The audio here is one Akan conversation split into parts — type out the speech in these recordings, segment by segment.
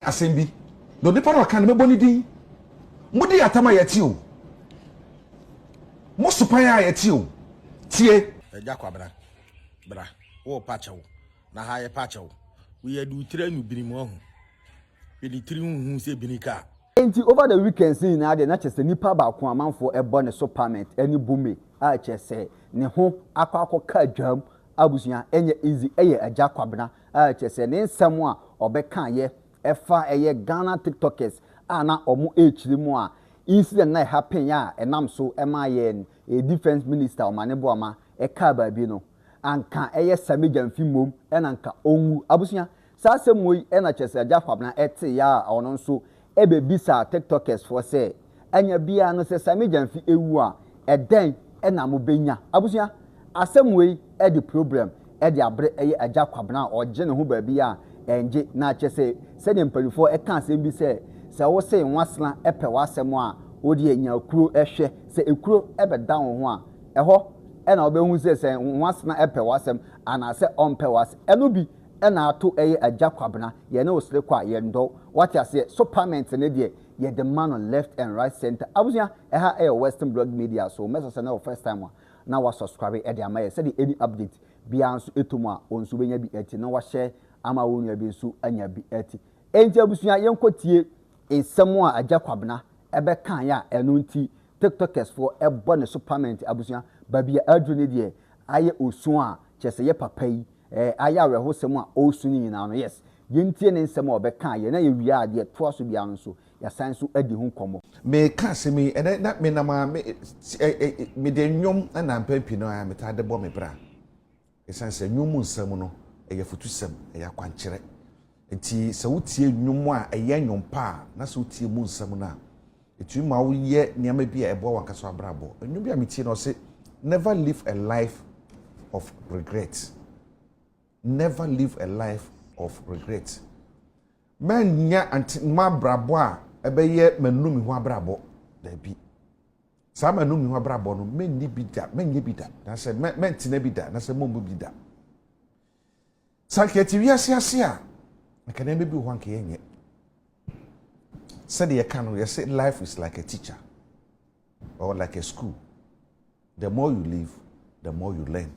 Asɛm bi, na onipa no a ɔka no, mɛbɔ ne din. Modi atam a yɛte o. Mo sopan a yɛte o. Tie. Agya Kwabena, bra, wo pa kyɛ wo, na ha yɛ pa kyɛ wo. Wo yɛ de wo tiri anu bini mu ahu. Hwɛ ne tiri ho hu sɛ bini kaa. Enti over the weekends no nyinaa deɛ na kyerɛ sɛ nipa baako amanfoɔ ɛbɔ ne so pament ɛne bome a kyerɛ sɛ ne ho akɔ akɔ ka dwam abusua ɛnyɛ easy ɛyɛ agya kwabena a kyerɛ sɛ ne nsɛm a ɔbɛkaeɛ ɛfa ɛyɛ Ghana tiktokers a na ɔmo ɛrekyiri mo a incident na ɛhappen a ɛnam so ɛmaa yɛn defence minister Omane Boamah ɛkaa baabi no anka ɛyɛ Sammy Gyamfi mmom ɛna anka ɔnwu abusua saa asɛm wei ɛna kyerɛ sɛ Agya Kwabena ɛteeɛ a ɔno nso ɛbɛbisaa tiktokers foɔ sɛ anya biaa no sɛ Sammy Gyamfi ɛwu a ɛdɛn na mo bɛnya? Abusua asɛm wei ɛde problem ɛde abrɛ ɛyɛ agya Kwabena a ɔgye ne ho baabiaa a ɛngye na akyɛ sɛ sɛdeɛ mpaninfoɔ ɛka asɛm bi sɛ sɛ wo se nwasena ɛpɛ w'asɛm a wo deɛ nya kuro hwɛ sɛ ekuro ɛbɛda wo ho a ɛhɔ na wobɛhu sɛ sɛ nwasena ɛpɛ w'asɛm anaasɛ ɔmpɛ w'asɛm ɛno bi Ɛna ato ɛyɛ agya kwabena yɛne wo sere kɔ a yɛn dɔ wo wate aseɛ so payment no deɛ yɛde ma no left and right center abusua ɛha ɛyɛ western blog media so mɛsɛ sɛ na ɛwɔ first time a na wa subscribe ɛde ama yɛ sɛdeɛ any update biara nso ɛtɔ mu a wɔn nso bɛnya bi ɛti na wahyɛ ama wɔn nua bi nso anya bi ɛti ɛnti abusua yɛnkɔ tie Nsɛm a Agya Kwabena bɛkaeɛ a ɛno nti Tiktokers foɔ bɔ ne so pamɛnte abusua baabi a aduru no deɛ ayɛ osuo a kyerɛ sɛ yɛ papa yi eh ayɛ awerɛhosɛm a ɔresu no nyinaa no yes yɛntie ne nsɛm a ɔbɛkaeɛ na yɛwie a deɛ ɛtoa so biara no nso yɛasan nso adi ho nkɔmmɔ. Mereka asɛm yi ɛnɛ na menam a me mede nnwom na mpɛn pii no ara metaa de bɔ me bra. Esiane sɛ nnwom mu nsɛm no yɛ afotusɛm, ɛyɛ akwankyerɛ nti, sɛ wotie nnwom a ɛyɛ nnwom pa a, na sɛ wotie mu nsɛm no a, ɛtumi ma woyɛ nneɛma bi a ɛboa w'ankasa w'abrabɔ. Nnwom bi a metie no ɔse, Never live a life of regret. Never live a life of regret. Mɛnyɛ ante mma abrabɔ a ɛbɛyɛ manu me ho abrabɔ. Daabi. Saa m'anom yi ho abrabɔ no, mɛnni bi da, mɛnyɛ bi da, na sɛ mɛ, mɛntena bi da, na sɛ mɔmmu bi da. Sɛ anka yɛte wiase ase a, anka nneɛma bi wɔ hɔ anka yɛnyɛ. Sɛdeɛ yɛka no, yɛsɛ life is like a teacher or like a school. The more you live, the more you learn.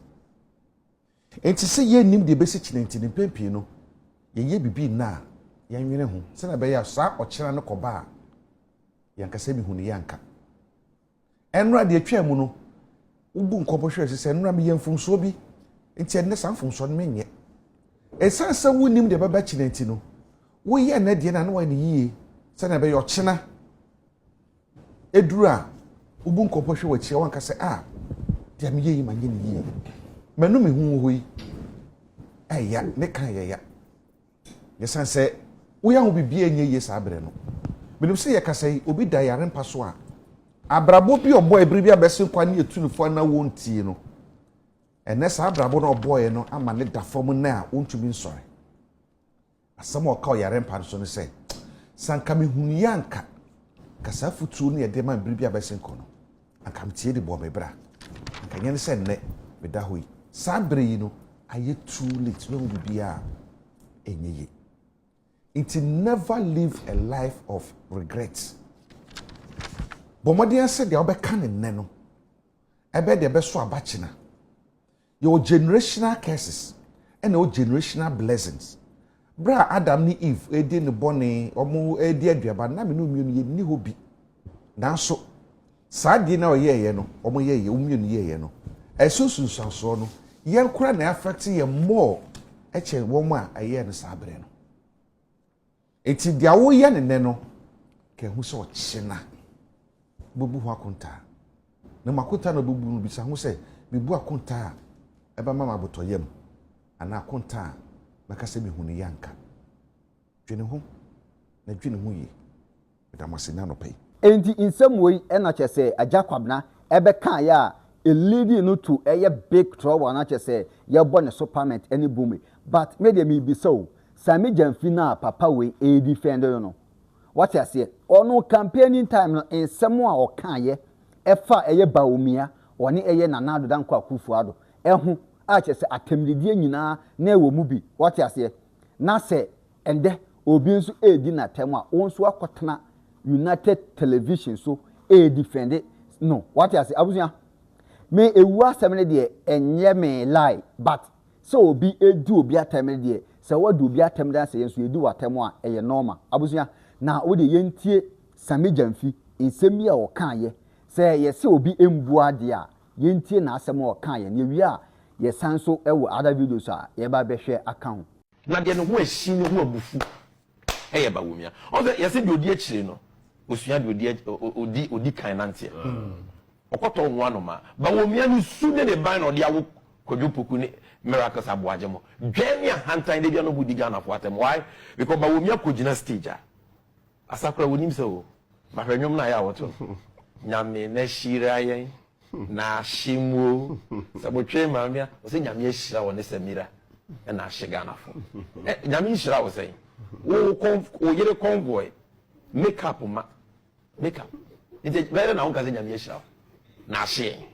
Enti sɛ yennim deɛ ɛbɛsi kyena nti no, mpɛn pii no, yɛnyɛ biribi nnɛ a yɛnnwene ho sɛnea ɛbɛyɛ a saa ɔkyena no kɔba a, yɛankasa mmehu no yɛanka. Ɛnnora deɛ ɛtwaa mu no, wobu nkɔmmɔ hwɛɛ so sɛ, Ɛnnora meyɛɛ mfomsoɔ bi, enti ɛnnɛ saa mfomsoɔ no menyɛ. Ɛsiane sɛ wonnim deɛ ɛbɛba kyena nti no, woyɛ nnɛ deɛ no a na woayɛ no yie sɛnea ɛbɛyɛ ɔkyena. Ɛduru a, wobu nkɔmmɔ hwɛ w'akyi a wanka sɛ, a, deɛ meyɛ yi manyɛ ne yie. Manu me ho wɔ hɔ yi, ɛya, ne kan yɛ ya. Yɛsan sɛ woyɛ ho biribiara nyɛ yie saa berɛ no. Menim sɛ yɛkasa yi, obi da yare mpa so a, abrabɔ bi ɔbɔ ɛberɛ bi abɛsen kɔ a ne yɛtu no fo anaa wɔntie no. Ɛnɛ saa abrabɔ no a ɔbɔeɛ no ama ne da fam nnɛ a ɔntumi nsɔre. Asɛm a ɔka wɔ yare mpa no so ne sɛ, Sɛ anka mehunuiɛ a anka, anka saa afotuo no yɛ den ma me bere bi a abɛsen kɔ no, anka meteɛ de bɔɔ me bra. Anka ɛnyɛ ne sɛ nnɛ meda hɔ yi. Saa bere yi no ayɛ too late, mahu biribiara a ɛnyɛ yie. Nti never live a life of regret. Bɔ mmɔden ara sɛ deɛ wobɛka no nnɛ no, ɛbɛyɛ deɛ ɛbɛso aba kyena. Yɛwɔ generational curses ɛna ɛwɔ generational blessings. Berɛ a Adam ne Eve redi ne bɔne, wɔn redi aduaba no, na mene wɔn mmienu yɛnni hɔ bi. Nanso, saa adeɛ no a wɔyɛeɛ no, wɔn yɛeɛ, wɔn mmienu yɛeɛ no, ɛso nsunsuansoɔ no, yɛn koraa na ɛafɛkte yɛn more kyɛn wɔn a ɛyɛɛ no saa berɛ no. Enti deɛ woyɛ no nnɛ no, ka hu sɛ ɔkyena wobɛbu ho akontaa. Na mu akontaa na wobɛbu no, bisa ho sɛ, mebu akontaa a ɛbɛma me abotɔyam anaa akontaa a mɛka sɛ mehu no yɛ anka? Dwene ho, na dwene ho yie. Meda mo ase nnɛ anɔpa yi. Enti nsɛm wei na kyerɛ sɛ Agya Kwabena bɛkaeɛ a ɛleadi no to ɛyɛ big trouble anaa kyerɛ sɛ yɛbɔ ne so parliament ne bome. But me deɛ merebisa o, Sɛ me gya mfi no a papa wei ɛredefend no no, wate aseɛ? Ɔno campaigning time no nsɛm a ɔkaeɛ ɛfa ɛyɛ Bawumia ɔne ɛyɛ Nana Addo Dankwa Akuffo Addo ɛho a kyerɛ sɛ atɛmdidie nyinaa na ɛwɔ mu bi, wate aseɛ? Na sɛ ɛndɛ obi nso ɛredi n'atɛm a wo nso akɔtena United Television so ɛredefend no, wate aseɛ abusua? Me ɛwuo asɛm no deɛ ɛnyɛ me lie but Sɛ obi redi obi atɛm no deɛ, sɛ w'adi obi atɛm deɛ na sɛ yɛn nso yɛdi w'atɛm a, ɛyɛ nɔɔma. Abusua, na wo deɛ yɛntie Sammy Gyamfi nsɛm bi a ɔkaeɛ. Sɛ yɛse obi mmua adeɛ a, yɛntie n'asɛm a ɔkaeɛ no. Yɛwie a, yɛsan nso wɔ other videos a yɛbɛba abɛhwɛ aka ho. Na deɛ ne ho asi no ho abufu. Ɛyɛ Bawumia. Ɔn sɛ yɛse deɛ odi akyire no osua deɛ odi odi odi kan nanteɛ. Ɔkɔtɔ ɔho anoma. Bawumia ne su ne ne ban na ɔde awo Kwadwo Poku ne Miracles Aboagyemo. Dwɛɛ ne ahantan da bia na ɔmo di Ghanafoɔ atɛm. Why? Because Bawumia kɔgyina stage a Asakora wonim sɛ o. Bahwɛ nwom no a ɛyɛ a wɔto no. Nyame na hyira yɛn. na ahye mu o sɛ mo twe maame a ɔsɛ nyame ahyira wɔ ne samira ɛna ahye Ghana fo ɛ nyame nhyira wɔ sɛn wo kɔn wo yere kɔnvoy make up ma make up nti bɛyɛ dɛ na wo nka sɛ nyame ahyira wɔ na ahye yɛn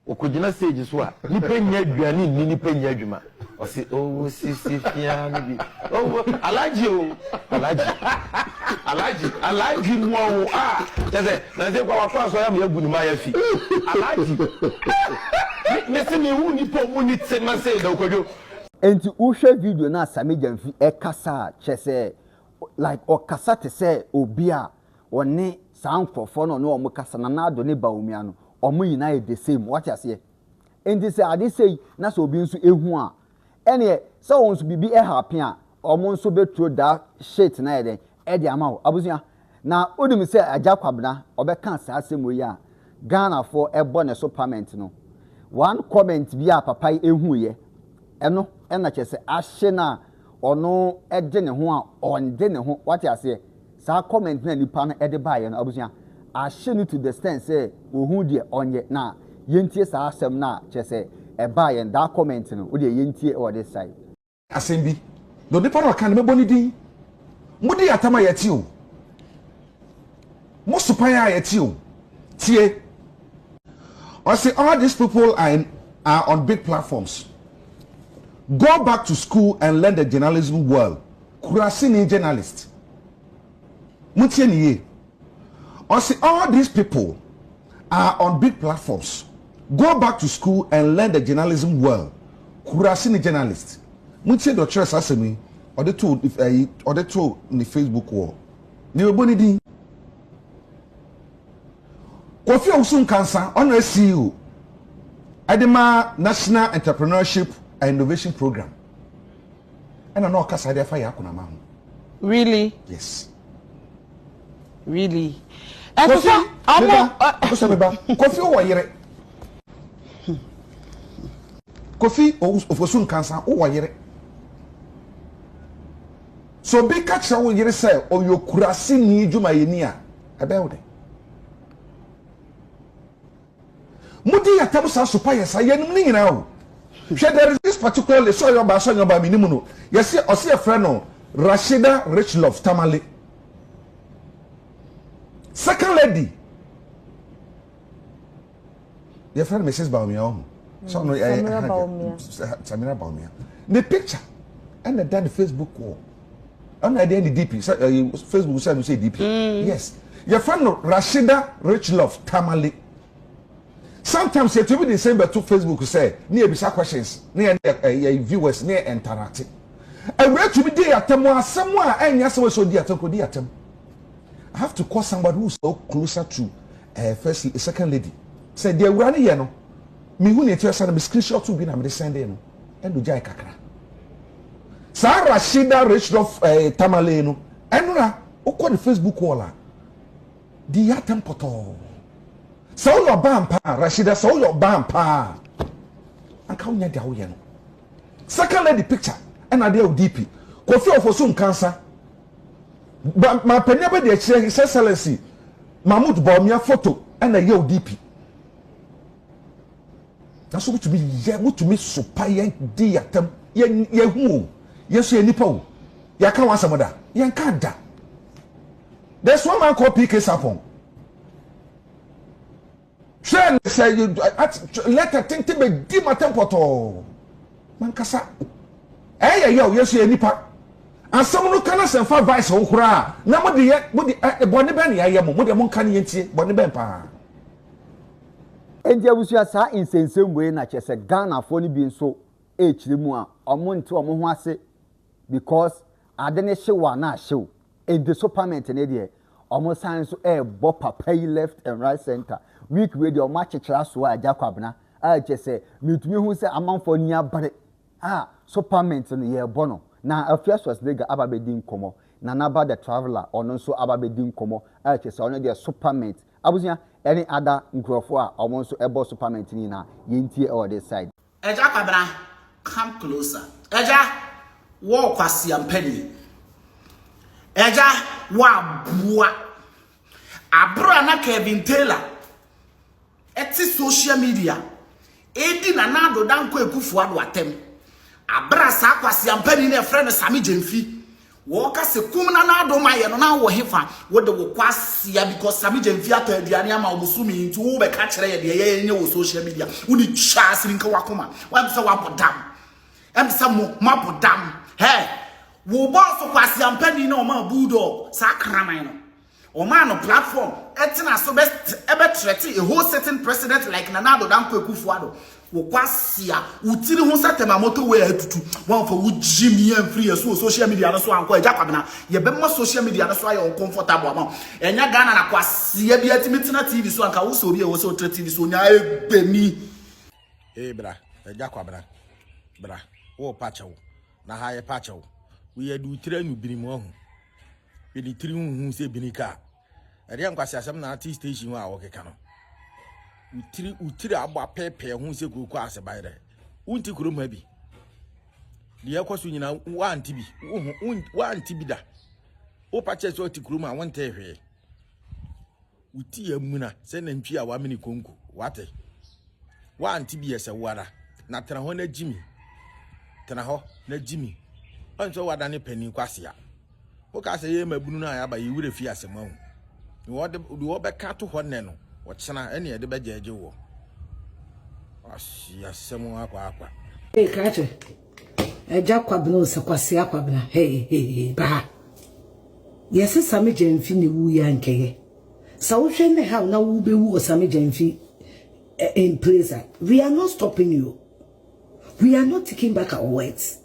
wɔkɔgyina stage so a nipa nya aduane nni nipa nya adwuma Ɔse owo sisi fia no bi owo Alhaji o Alhaji Alhaji Alhaji mua o ah kyɛ sɛ nansi kwa wakɔ asɔre ama yɛagu ne mayafi Alhaji me me se mehu nipa ɔmu ni te ma sei da Okwadwo Enti wo hwɛ video no a Sammy Gyamfi kasa a kyerɛ sɛ like ɔkasa te sɛ obi a ɔne saa nkorɔfoɔ no a ɔne wɔn kasa Nana Addo ne Bawumia no wɔn nyinaa yɛ the same wate aseɛ. Enti sɛ ade sei na sɛ obi nso ehu a, ɛneɛ sɛ wɔn nso biribi happen a, wɔn nso bɛ throw that shit na yɛ dɛn ɛde ama wo. Abusua, na wonim sɛ Agya Kwabena ɔbɛka saa asɛm wei a Ghanafoɔ ɛbɔ ne so pament no, one comment bi a papa yi ehuuyɛ, ɛno na kyerɛ sɛ ahye no a, ɔno de ne ho a ɔnde ne ho wate aseɛ saa comment na nipa no de baeɛ no abusua ahye no to the stand sɛ ohu deɛ ɔnyɛ na yɛntie saa asɛm no a kyerɛ sɛ ɛbaa yɛn daa comment no wodeɛ yɛntie wɔ this side. Asɛm bi na onipa no ɔka no mɛbɔ ne din modi atam a yɛte o. Mo sopae a ɛte o, tie. Ɔse all these people are in are on big platforms. Go back to school and learn the journalism well. Kurasini journalist. Montie ne yie. Ɔse all these people are on big platforms. Go back to school and learn the journalism well. Kurasini journalist. Montie deɛ ɔkyerɛ saa asɛm yi ɔde too ɛyi ɔde too ne Facebook wɔ. Nea ɔbɔ ne din. Kofi Owusu Nkansah, ɔno CEO ɛde ma National Entrepreneurship and Innovation Program. Ɛna na ɔkasa de afa Yaa Kunama ho. Really? Yes. Really? Ɛso sɛ ɔmo. Kofi, sɛ meba. Kofi wɔ yere. Kofi Owusu Nkansah wɔ yere. Sɛ obi ka kyerɛ wo yere sɛ ɔyɛ okuraseni dwumayɛni a, ɛbɛyɛ wo dɛn? Mudi yɛn ntam saa, so pa yɛ saa? Yɛnnim ne nyinaa o. Hwɛ, there is this particular lady, sɛ ɔyɛ ɔbaa sɛ ɔnyɛ ɔbaa mennim no, yɛse ɔse yɛfrɛ no Rashida Richlove Tamale. Second lady. yɛfrɛ no mrs baomia wɔ ho sɛ ɔno ɛyɛ Samira ɛha Baumia. deɛ samira baomia ne picture ɛna ɛda ne facebook wɔ ɛna ɛdeɛ ne dp sɛ ɛyɛ facebook sɛ ɛno sɛ dp yes yɛfrɛ no rashida rich love tamale sometimes yɛtumi de nsɛm bɛto facebook sɛ ne yɛbisa questions ne yɛ ne yɛ- yɛ viewers ne yɛ ntarate awura tumi di atam wɔ asɛm a ɛnyɛ asɛm a ɛsɛ ɔdi atam kɔdi atam I have to call somebody who's so closer to ɛɛ first lady second lady sɛ deɛ awura no yɛ no mehu nea ɛti asa no me screenshot bi na mede sɛndee no ɛna ogyae kakra saa Rashida Richdoff ɛɛ eh, Tamale no ɛnora wokɔ ne Facebook wall a deɛ yɛ atɛm pɔtɔɔ sɛ woyɛ ɔbaa mpaa Rashida sɛ woyɛ ɔbaa mpaa anka wonya deɛ woyɛ no second lady picture ɛna adeɛ wo DP Kofi Ofosu nkansa Ba ma panyin abɛdi akyire His Excellency Mahmoud Bawumia foto ɛna ɛyɛ ODP. Naso mutumi yɛ mutumi sopa yɛn di yatam yɛn yɛn hu o yɛn so yɛn nipa o yɛaka wɔn asɛm da yɛn ka da. There's one man called PK Sarpong. Hwɛ ne sɛ lɛtɛ tenten bɛdi matɛm pɔtɔɔ mankasa ɛyɛ yɛ o yɛso yɛ nipa asɛm no ka no sɛ mfa vice ho koraa na mode yɛ mode bɔne bɛn ne yɛayɛ mo mode monka ne yɛntie bɔne bɛn paa Enti abusua saa nsɛnsɛm wei na kyerɛ sɛ Ghanafoɔ no bi nso ɛrekyerɛ mu a wɔn nte wɔn ho ase because ade no hye wo a na ahye wo. Enti so parment no deɛ ɔmo san nso ɛɛbɔ papa yi left and right center. Week wei deɛ ɔmo akyekyere asoa Agya Kwabena a kyerɛ sɛ metumi hu sɛ amanfoɔ ani abere a so parment no yɛɛbɔ no. Na Afia Schwarzenegger aba abɛdi nkɔmɔ. Nana Ba the Traveller ɔno nso aba abɛdi nkɔmɔ a kyerɛ sɛ ɔno deɛ so parment. Abusua ɛne ada nkurɔfoɔ a ɔmo nso ɛbɔ so parment no nyinaa yɛntie ɛwɔ this side. Agya Kwabena, come closer. Agya, wɔ Kwasi Ampani. Agya, wɔ aboa. Abra na Kevin Taylor ɛte social media edi na na adoda nkɔ ekufu ado atem. Abra saa Kwasi Ampani na ɛfrɛ no Sami Gyemfi. Wɔka se kum na na adom ayɛ no na wowɔ hefa? Wo de wo kwasia because Sammy Gyamfi atɔ aduane ama wo bosome yi nti wo bɛka kyerɛ yɛ deɛ yɛyɛ nyɛ wɔ social media. Wo de twa asiri nka wakoma. Wɛm sɛ wabɔ dam. Ɛm sɛ mo mabɔ dam. Hɛ! Wo bɔɔso kwasia mpanin na ɔma bulldog saa kraman no. Wɔmaa no platform ɛtena so bɛ threaten a whole sitting president like Nana Addo Dankwa Akufo Addo. Wo kwasia, wo tiri ho sɛ tɛma motorway a atutu. Woamfa wo gyimii amfiri yɛn so wɔ social media no so ankɔ Agya Kwabena. Yɛbɛma social media no so ayɛ uncomfortable ama wo. Ɛnyɛ Ghana na kwasia biara tumi tena TV so a, anka wosɛ obi a ɛwɔ sɛ ɔtra TV so ɔnya agbani. Ee bra, Agya Kwabena, bra, worepa kyɛw, na ha yɛpa kyɛw. Woyɛ de wo tiri anwubiri mu ahu. Mede tiri ho hu sɛ bini ka a, ɛdeɛ nkwaseasɛm na ate station hɔ a wɔkeka no. Wotiri wotiri abɔ apɛɛpɛɛ ho sɛ kurokɔ ase ban dɛ. Wonti kurom ha bi. Deɛ ɛkɔ so nyinaa woante bi. Woante bi da. Wopa kyɛ sɛ ɔte kurom a wontee hwee. Wo ti amuna sɛ nantwi a wamene konko. Woate? Woante bi ɛ sɛ wo ara, na tena hɔ na gye mi. Tena hɔ na gye mi. Woahu sɛ woadane panin kwasea. Wokaa sɛ yɛyɛ mmabunu no a yɛaba, yɛn werɛ fi asɛm ahu. Deɛ wɔde, deɛ wɔbɛka ato hɔ nnɛ no, ɔkyena ɛne yɛde bɛgyɛɛgye woɔ. Wasi asɛm akwaakwa. Hey, Krache, Agya Kwabena o sɛ Kwasea Kwabena hey hey baa yɛ se Same Gyamfi ne wu ya nkɛyɛ sa wo hwɛ ne how na wo be wu o Same Gyamfi eh, in praise we are not stopping you we are not taking back our words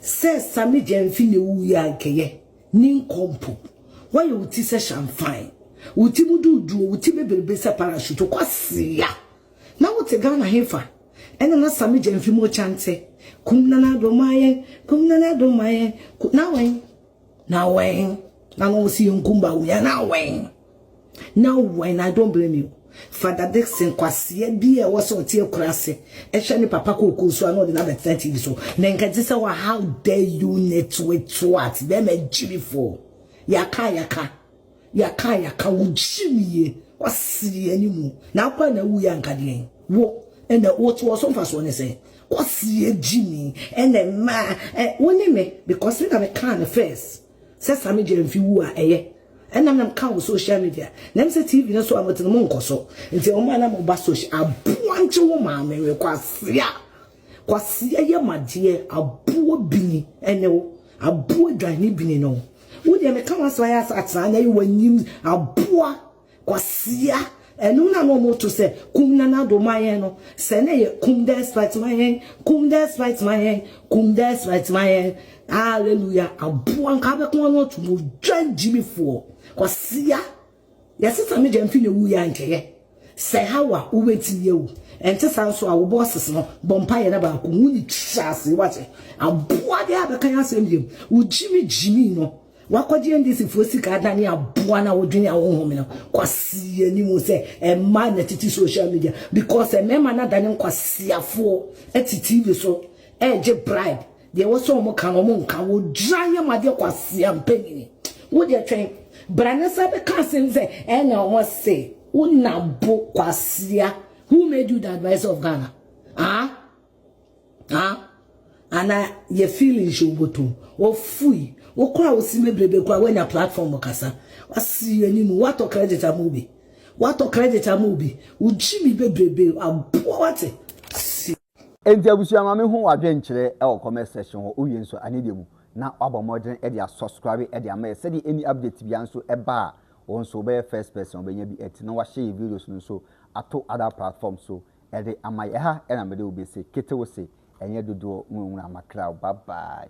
sɛ Same Gyamfi ne wu ya nkɛyɛ ne nkɔmpo wɔyɛ wo ti sɛ shamfan wo ti mu duduo wo ti bebrebe sɛ parachute kwasea Na wo te Ghana hefa? Ɛna na Sammy Gyamfi mu kyante. Kum Nana Addo ma yɛn, kum Nana Addo ma yɛn, kum na wɛn, na wɛn. Na no wɔsi yɛn kum Bawumia na wɛn, na wɛn. I don't blame you. Father Dickson kwaseɛ bi a ɛwɔ sɛ ɔte akurase ɛhwɛ ne papa kookoo so a na ɔde no abɛtena TV so. Na nka ɛte sɛ how dare you nitwitwat bɛrima gyimifoɔ. Yɛaka a yɛaka. Yɛaka a yɛaka wo gyim yie kwasea yɛ ne mu na akɔ a na awuiɛ anka deɛn wo ɛna wo te wɔ so mfasoɔ ne sɛ kwasea gyimi ɛna mmaa ɛ wo ne me because me na me kaa no first sɛ same gya mfi wu a ɛyɛ ɛnam nam ka wɔ social media nam sɛ tv no so a motene mo nkɔ so nti ɔmo a na mo ba social aboa nkye wo maame we kwasea Kwasia yɛ ma deɛ aboɔ bini ne wo aboɔ dwan ne bini ne wo wo deɛ meka w'asɛm ayɛ asa atena na yi w'anyim aboa kwasia ɛno na na ɔmo to sɛ kum nana do ma yɛn no sɛ na yɛ kum despite ma yɛn kum despite ma yɛn kum despite ma yɛn hallelujah aboa nka bɛko ano ato mo dwan gyimifoɔ kwasia Yɛ sista no gya mfi na wu yɛ a nkyɛyɛ sɛ how a wo bɛtumi awu ɛnte saa nso a wo bosses no bɔ mpa yɛ na baako wu ne twa ase wate aboa de a bɛka yɛ asɛm yam wo gyimi gyimi no wakɔgye ndc foɔ sika adane aboa na wodwene a wohome no kwasi yɛ ni mu sɛ ɛma na titi social media because ɛmɛma na adane nkwasiafoɔ ɛti tv so ɛgye bribe Deɛ ɛwɔ sɛ wɔka no, wɔnka. Wɔdwira yam adeɛ kwasea mpanin. Wo deɛ twɛn. Bra na san bɛka asɛm sɛ ɛna wɔse wo na bo kwasea. Who made you the adviser of Ghana? Ah? Ah? Ana yɛ feelings yi woboto. Ofui. Wo kora wo sime brebe kora woanya platform kasa. Wasi yɛni mu. Watɔ credit ama obi. Watɔ credit ama obi. Wo gyimi bebrebe. Aboa wate. Si. Enti abusua ma me hu wadwen kyerɛ wɔ comment section hɔ wowie nso a ne deɛ mu na wabɔ mmɔden de a subscribe de ama yɛ sɛdeɛ any update bia nso ba a wo nso wobɛyɛ first person ɔbɛnya bi ɛti na wahyɛ yɛ videos no nso ato other platform so de ama yɛ ɛha na mede wo bɛse kete wo se ɛnyɛ dodoɔ nwunwuna makra bye bye.